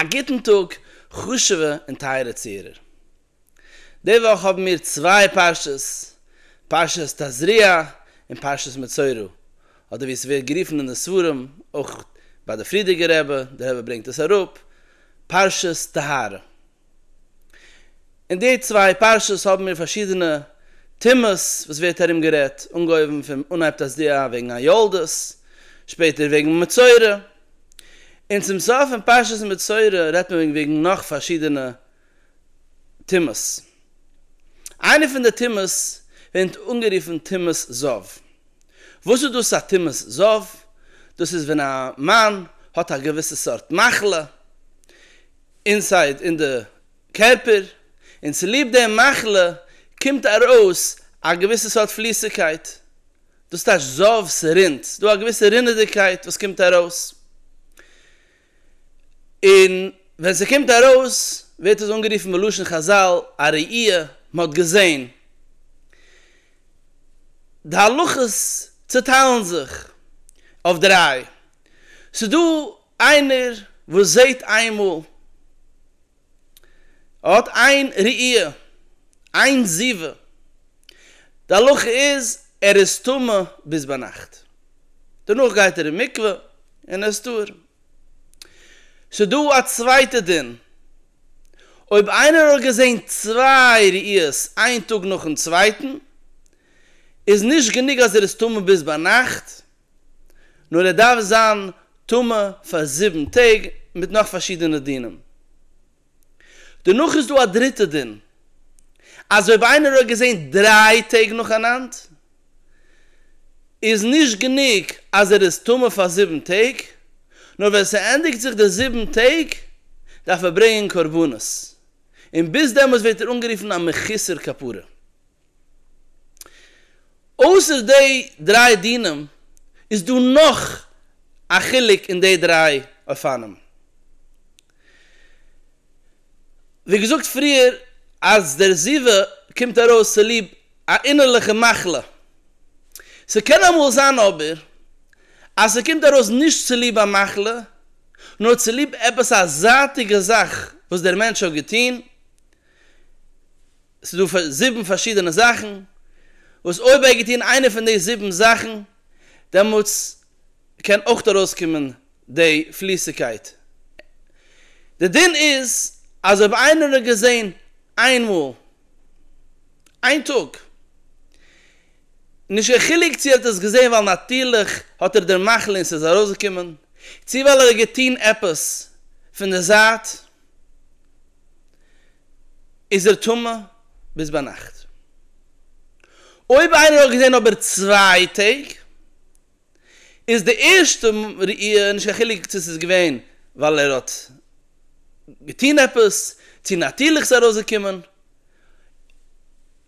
א גוטן טאג חשוב'ע און טייערע צוהערער. די וואך האבן מיר צוויי פרשות, פרשת תזריע און פרשת מצורע, אדער ווי עס ווערט גערופן אין די ספרים, אויך ביי די פרידיגער רבי, דער רבי ברענגט עס אראפ, פרשת טהרה. אין די צוויי פרשות האבן מיר פארשידענע טעמעס וואס ווערט ארום גערעדט, אנגעהויבן פון אנהייב תשסד א וועגן א יולדות, שפעטער וועגן מצורע, און צום סוף פון פרשת מצורע רעדט מען וועגן נאך פארשידענע טעמעס. איינע פון די טעמעס ווערט אנגערופן טומאת זב. וואס איז דאס א טומאת זב? דאס איז ווען א מאן האט א געוויסע סארט מחלה, אינסייד אין די קערפער, און צוליב די מחלה קומט ארויס א געוויסע סארט פליסיגקייט, דאס טייטש זאב, ס'רינט, ס'דא א געוויסע רינעדיגקייט וואס קומט ארויס, און ווען ס'קומט ארויס ווערט עס אנגערופן בלשון חזל א ראי', מ'האט געזען. די הלכות צוטיילן זיך אויף דריי, ס'דא איינער וואס זעהט איינמאל, ער האט איין ראי', איין זיווה, די הלכה איז ער איז טמא ביז ביינאכט, דערנאך גייט ער אין מקווה און ער איז טהור. ס'דא א צווייטע דין, אויב איינער האט געזעהן צוויי ראיות איין טאג נאכן צווייטן, איז נישט גענוג אז ער איז טמא ביז ביינאכט, נאר ער דארף זיין טמא פאר זיבן טעג מיט נאך פארשידענע דינים. דערנאך איז דא א דריטע דין, אז אויב איינער האט געזען דריי טעג נאכאנאנד, איז נישט גענוג אז ער איז טמא פאר זיבן טעג, נאר ווען ס'ענדיגט זיך די זיבן טעג, דארף ער ברענגען קרבנות, און ביז דעמאלס ווערט ער אנגערופן א מחוסר כפרה. אויסער די דריי דינים איז דא נאך א חילוק אין די דריי אופנים. ווי געזאגט פריער אז דער זיווג קומט ארויס צוליב א אינערליכע מחלה. ס'קען אמאל זיין אבער אז ס'קומט ארויס נישט צוליב א מחלה, נאר צוליב עפעס א זייטיגע זאך וואס דער מענטש האט געטון, ס'איז דא פאר זיבן פארשידענע זאכן, וואס אויב ער האט געטון איינע פון די זיבן זאכן, דעמאלטס קען אויך ארויסקומען די פליסיגקייט. די דין איז אז אויב איינער האט געזען איין מאל, איין טאג, נישט קיין חילוק צו ער האט עס געזען ווייל נאטירליך האט ער די מחלה און ס'איז ארויסגעקומען, צו ווייל ער האט געטון עפעס פון די זייט, איז ער טמא ביז ביינאכט. אויב איינער האט געזען אבער צוויי טעג, איז די ערשטע ראי', נישט קיין חילוק צו ס'איז געווען ווייל ער האט געטון עפעס, צו נאטירליך איז ארויסגעקומען,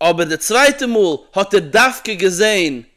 אבער די צווייטע מאל האט ער דווקא געזען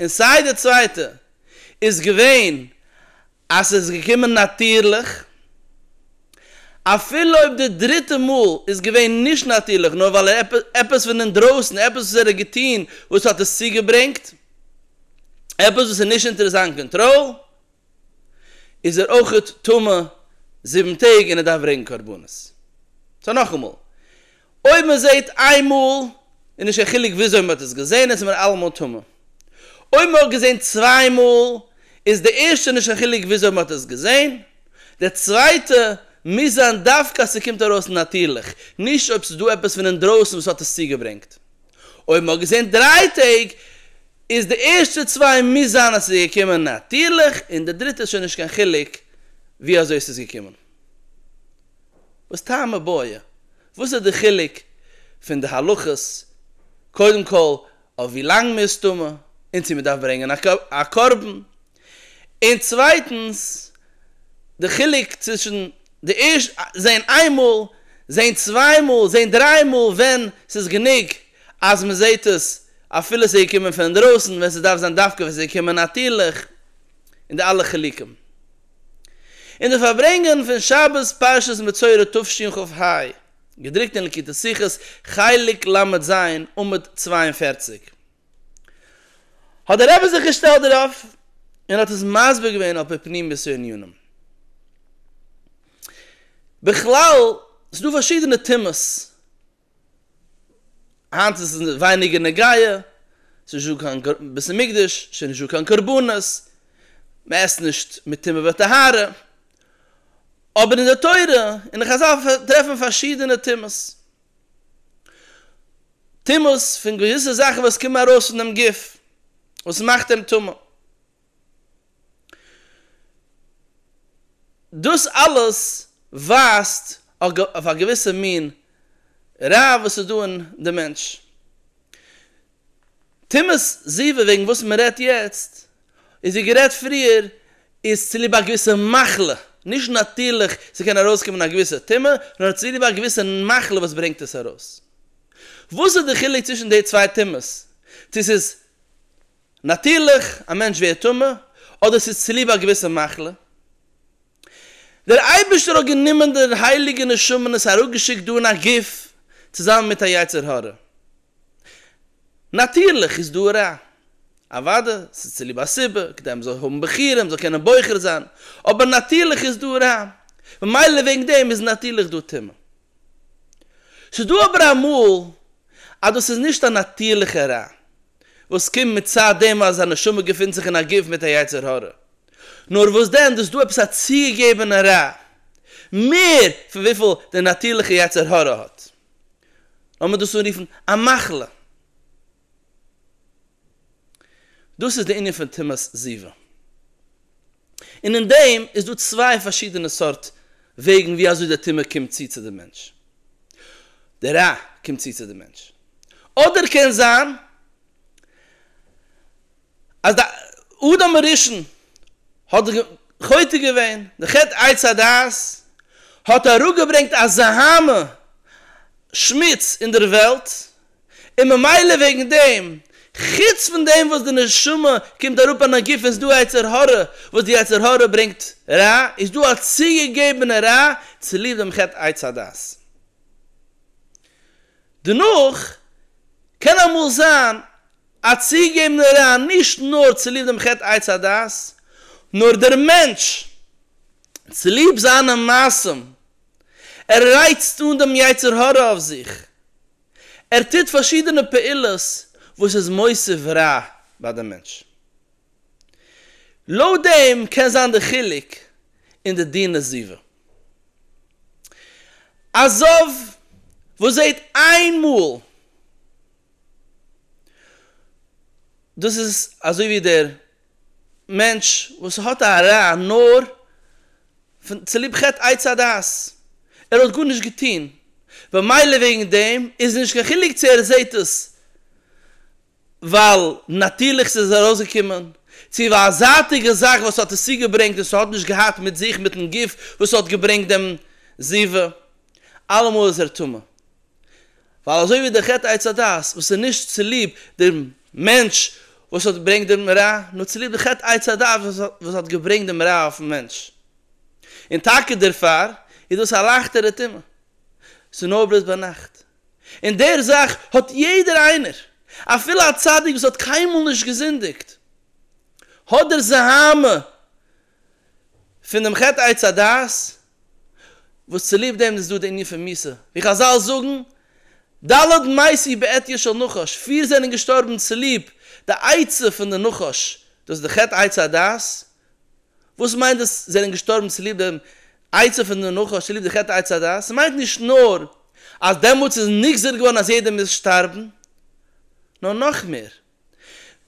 און סיי די צווייטע איז געווען אז ס'איז געקומען נאטירליך, אפילו אויב די דריטע מאל איז געווען נישט נאטירליך נאר ווייל ער עפעס פון אינדרויסן, עפעס וואס ער האט געטון וואס האט עס צוגעברענגט, עפעס וואס איז נישט אונטער זיין קאנטראל, איז ער אויך טמא זיבן טעג און ער דארף ברענגן קרבנות. סאו נאכאמאל. אויב מען זעט איין מאל איז נישט קיין חילוק וויאזוי מען האט עס געזען עס איז מען אלעמאל טמא. אויב מען האט געזען צוויי מאל איז די ערשטע נישט קיין חילוק וויאזוי מען האט עס געזען, די צווייטע מוז זיין דווקא אז ס'קומט ארויס נאטירליך, נישט אויב ס'איז דא עפעס פון אינדרויסן וואס האט עס צוגעברענגט. אויב מען האט געזען דריי טעג איז די ערשטע צוויי מוז זיין אז ס'איז געקומען נאטירליך און די דריטע איז שוין נישט קיין חילוק ווי אזוי ס'איז געקומען. וואס טעם הבעיה? וואס איז די חילוק פון די הלכות קודם כל אויף ווי לאנג מען איז טמא און צו מען דארף ברענגען א קרבן? און צווייטנס די חילוק צווישן די ערשט זעהן איין מאל, זעהן צוויי מאל, זעהן דריי מאל ווען ס'איז גענוג אז מען זעהט עס אפילו ס'איז געקומען פון אינדרויסן ווען ס'דארף זיין דווקא ווען ס'איז געקומען נאטירליך און די אלע חילוקים. אין די פארברענגען פון שבת פרשת מצורע תשכ ח, געדרוקט אין לקוטי שיחות חלק ל ז עמוד צוויי און פֿערציק, האט דער רבי זיך געשטעלט דערויף און האט עס מסביר געווען על פי פנימיות הענינים. בכלל, ס'דא פארשידענע טעמעס. היינט איז עס ווייניגער נוגיא, ס'איז נישטא קיין בית המקדש, ס'איז נישטא קיין קרבנות, מ'עסט נישט מטומאה וטהרה, אבער אין די תורה און די חזל טרעפט מען פארשידענע טומאות, טומאות פון געוויסע זאכן וואס קומען ארויס פונעם גוף, וואס מאכט אים טמא. דאס אלעס ווייזט אויף א געוויסע מין רע וואס איז דא אין די מענטש. טומאת זיווג וועגן וואס מען רעדט יעצט, איז ווי גערעדט פריער, איז צוליב א געוויסע מחלה, נישט נאטירליך ס'קען ארויסקומען א געוויסע טומאה, נאר צוליב א געוויסע מחלה וואס ברענגט עס ארויס. וואס איז די חילוק צווישן די צוויי טומאות? צו ס'איז. נאטירליך, א מענטש ווערט טמא, אדער ס'איז צוליב א געוויסע מחלה. דער אייבערשטער האט גענומען די הייליגע נשמה און עס אראפגעשיקט דא אין א גוף, צוזאמען מיט א יצר הרע. נאטירליך איז דא רע. אוודאי, ס'איז צוליב א סיבה, כדי מ'זאל האבן בחירה, מ'זאל קענען בוחר זיין. אבער נאטירליך איז דא רע. ממילא וועגן דעם איז נאטירליך דא טומאה. ס'איז דא אבער אמאל אז דאס איז נישט א נאטירליכע רע. וואס קומט מצד דעם אז א נשמה געפינט זיך אין א גוף מיט א יצר הרע. נאר וואס דען, דאס דא עפעס א צוגעגעבענע רע, מער פון וויפיל דער נאטירליכע יצר הרע האט. לאמיר דאס אנרופן א מחלה. דאס איז דער ענין פון טומאת זיווג. און אין דעם איז דא צוויי פארשידענע סארט וועגן ווי אזוי דער טומאה קומט צו צו דעם מענטש, די רע קומט צו צו דעם מענטש, אדער קען זיין אז די אדם הראשון האט חוטא געווען, די חטא עץ הדעת האט אראפגעברענגט א זעהמה, שמוץ, אין דער וועלט, און ממילא וועגן דעם, חוץ פון דעם וואס די נשמה קומט אראפ אן א גוף און ס'איז דא א יצר הרע וואס די יצר הרע ברענגט רע, איז דא א צוגעגעבענע רע צוליב דעם חטא עץ הדעת. דערנאך, קען אמאל זיין א צוגעגעבענע רע נישט נאר צוליב דעם חטא עץ הדעת, נאר דער מענטש צוליב זיינע מעשים, ער רייצט אן דעם יצר הרע אויף זיך, ער טוט פארשידענע פעולות וואס איז מוסיף רע ביי די מענטש. לויט דעם קען זיין די חילוק אין די דין עזיבה. א זב וואס זעט איין מאל, דאס איז אזוי ווי דער. מענטש וואס האט א רע נאר פון צוליב חטא עץ הדעת, ער האט גארנישט געטון, במילא וועגן דעם איז נישט קיין חילוק צו ער זעט עס ווייל נאטירליך ס'איז ארויסגעקומען, צו ווייל א זייטיגע זאך וואס האט עס צוגעברענגט און ס'האט נישט געהאט מיט זיך מיטן גוף וואס האט געברענגט דעם זיווג, אלעמאל איז ער טמא. ווייל אזוי ווי דער חטא עץ הדעת וואס איז נישט צוליב דעם מענטש וואס האט געברענגט דעם רע, נאר צוליב דער חטא עץ הדעת וואס האט געברענגט דעם רע אויפן מענטש, און טאקע דערפאר איז דאס א לייכטערע טומאה, ס'איז נאר בלויז ביינאכט, און דער זאך האט יעדער איינער, אפילו א צדיק וואס האט קיינמאל נישט געזינדיגט, האט דער זהמה פון דעם חטא עץ הדעת, וואס צוליב דעם איז דא די ענין פון מיתה, ווי חזל זאגן, ד' מאיסי בעטיה של נחש, פיר זענען געשטארבן צוליב די עצה פון די נחש, דאס איז די חטא עץ הדעת, וואס מיינט דאס זענען געשטארבן צוליב דעם עצה פון די נחש, צוליב די חטא עץ הדעת, ס'מיינט נישט נאר אז דעמאלטס איז נגזר געווארן אז יעדער מוז שטארבן, נאר נאך מער,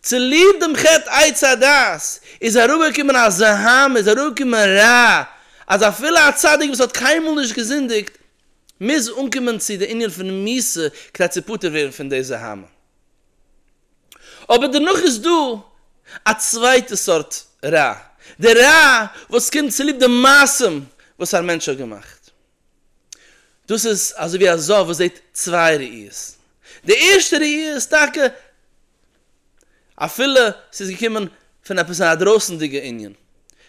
צוליב דעם חטא עץ הדעת איז אראפגעקומען א זעהמע, איז אראפגעקומען רע, אז אפילו א צדיק וואס האט קיינמאל נישט געזינדיגט, מוז אנקומען צו די ענין פון מיתה כדי צו פטור ווערן פון די זעהמע. אבער דערנאך איז דא א צווייטע סארט רע, די רע וואס קומט צוליב די מעשים וואס א מענטש האט געמאכט. דאס איז אזוי ווי א זאב וואס זעט צוויי ראיות. די ערשטע ראי' איז טאקע אפילו ס'איז געקומען פון עפעס א דרויסענדיגע ענין,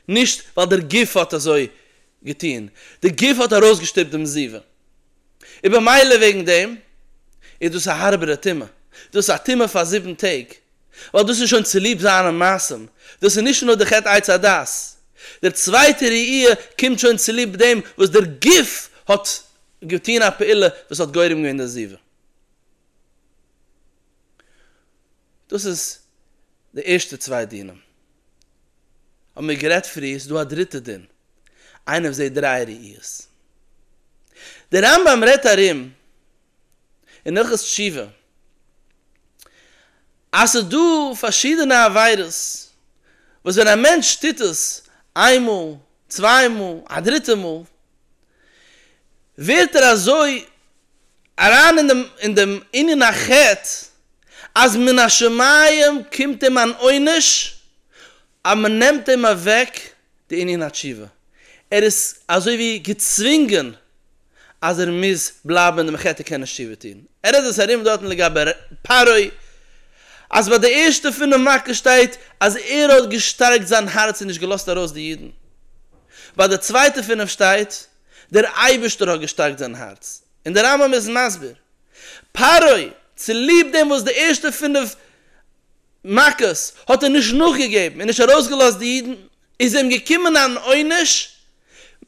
נישט ווייל דער גוף האט אזוי געטון, די גוף האט ארויסגעשטופט דעם זיווג, און במילא וועגן דעם איז דאס א הארבערע טומאה, דאס איז א טומאה פאר זיבן טעג, ווייל דאס איז שוין צוליב זיינע מעשים, דאס איז נישט נאר די חטא עץ הדעת, דער צווייטער ראי' קומט שוין צוליב דעם וואס דער גוף האט געטון א פעולה וואס האט גורם געווען די עזיבה. דאס איז די ערשטע צוויי דינים. האבן מיר גערעדט פריער, ס'איז דא א דריטע דין, איינער וואס זעט דריי ראיות. דער רמב ם רעדט ארום אין הלכות תשובה אז ס'איז דא פארשידענע עבירות וואס ווען א מענטש טוט עס איין מאל, צוויי מאל, א דריטע מאל, ווערט ער אזוי אריין אין דעם ענין החטא אז מן השמים קומט אים אן עונש אז מ'נעמט אים אוועק די ענין התשובה. ער איז אזוי ווי געצווינגען אז ער מוז בלייבן אין דעם חדר קען נישט תשובה טון. ער רעדט עס ארום דארטן לגבי פרעה אז ביי די ערשטע פינף מכות שטייט אז ער האט געשטארקט זיין הארץ און נישט געלאזט ארויס די אידן. ביי די צווייטע פינף שטייט דער אייבערשטער האט געשטארקט זיין הארץ. און דער רמב ם איז מסביר. פרעה צוליב דעם וואס די ערשטע פינף מכות, האט ער נישט נאכגעגעבן און נישט ארויסגעלאזט די אידן, איז אים געקומען אן עונש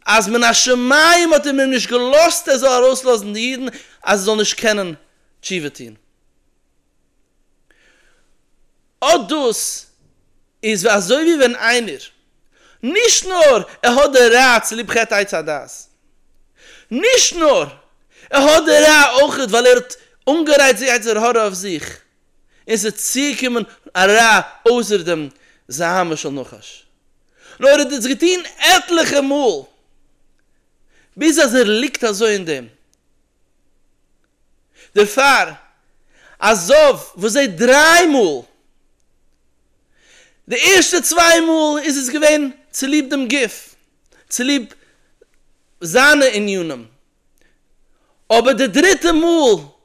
אז מן השמים האט אים אים נישט געלאזט ער זאל ארויסלאזן די אידן אז ער זאל נישט קענען תשובה טון. אט דאס איז אזוי ווי ווען איינער, נישט נאר ער האט די רע צוליב חטא עץ הדעת, נישט נאר ער האט די רע אויך ווייל ער האט אנגערייצט די יצר הרע אויף זיך, און ס'איז צוגעקומען א רע אויסער דעם זהמה של נחש, נאר ער האט דאס געטון עטליכע מאל, ביז אז ער ליגט אזוי אין דעם. דערפאר, א זב וואס זעט דריי מאל, די ערשטע צוויי מאל איז עס געווען צוליב דעם גוף, צוליב זיינע ענינים, אבער די דריטע מאל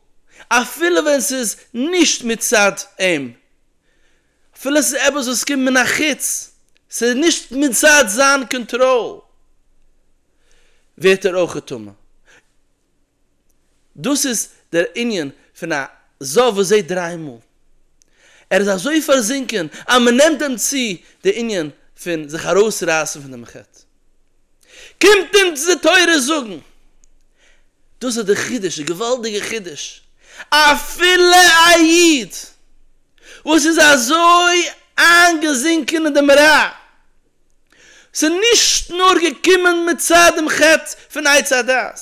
אפילו ווען ס'איז נישט מצד אים, אפילו ס'איז עפעס וואס קומט מן החוץ, ס'איז נישט מצד זיין קאנטראל, ווערט ער אויך טמא. דאס איז דער ענין פון א זב וואס זעט דריי מאל. ער איז אזוי פארזינקען אז מ'נעמט אים צו די ענין פון זיך ארויסרייסן פון דעם חטא. קומט אונז די תורה זאגן, דאס איז די חידוש, די געוואלדיגע חידוש, אפילו א איד וואס איז אזוי איינגעזינקען אין דעם רע, ס'איז נישט נאר געקומען מצד דעם חטא פון עץ הדעת,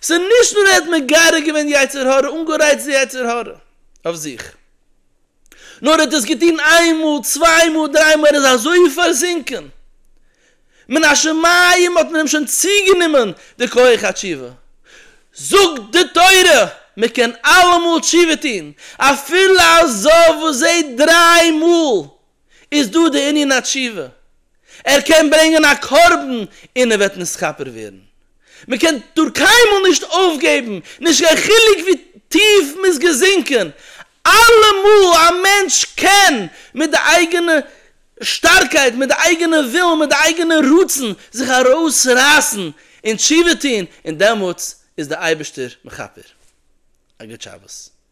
ס'איז נישט נאר ער האט מגרה געווען יצר הרע, אנגערייצט די יצר הרע אויף זיך, נאר ער האט עס געטון איין מאל צוויי מאל דריי מאל ער איז אזוי פארזינקען מן השמים האט מען אים שוין צוגענומען די כח התשובה, זאגט די תורה מען קען אלעמאל תשובה טון אפילו א זאב וואס זעהט דריי מאל איז דא די ענין התשובה ער קען ברענגען א קרבן און ער וועט נתכפר ווערן מען קען דאר קיינמאל נישט אויפגעבן נישט קיין חילוק ווי טיף מען איז געזינקען אלעמאל א מענטש קען מיט די אייגענע שטארקייט, מיט די אייגענע ווילן, מיט די אייגענע רצון זיך ארויסרייסן און תשובה טון, און דעמאלטס איז דער אייבערשטער מכפר. א גוט שבת.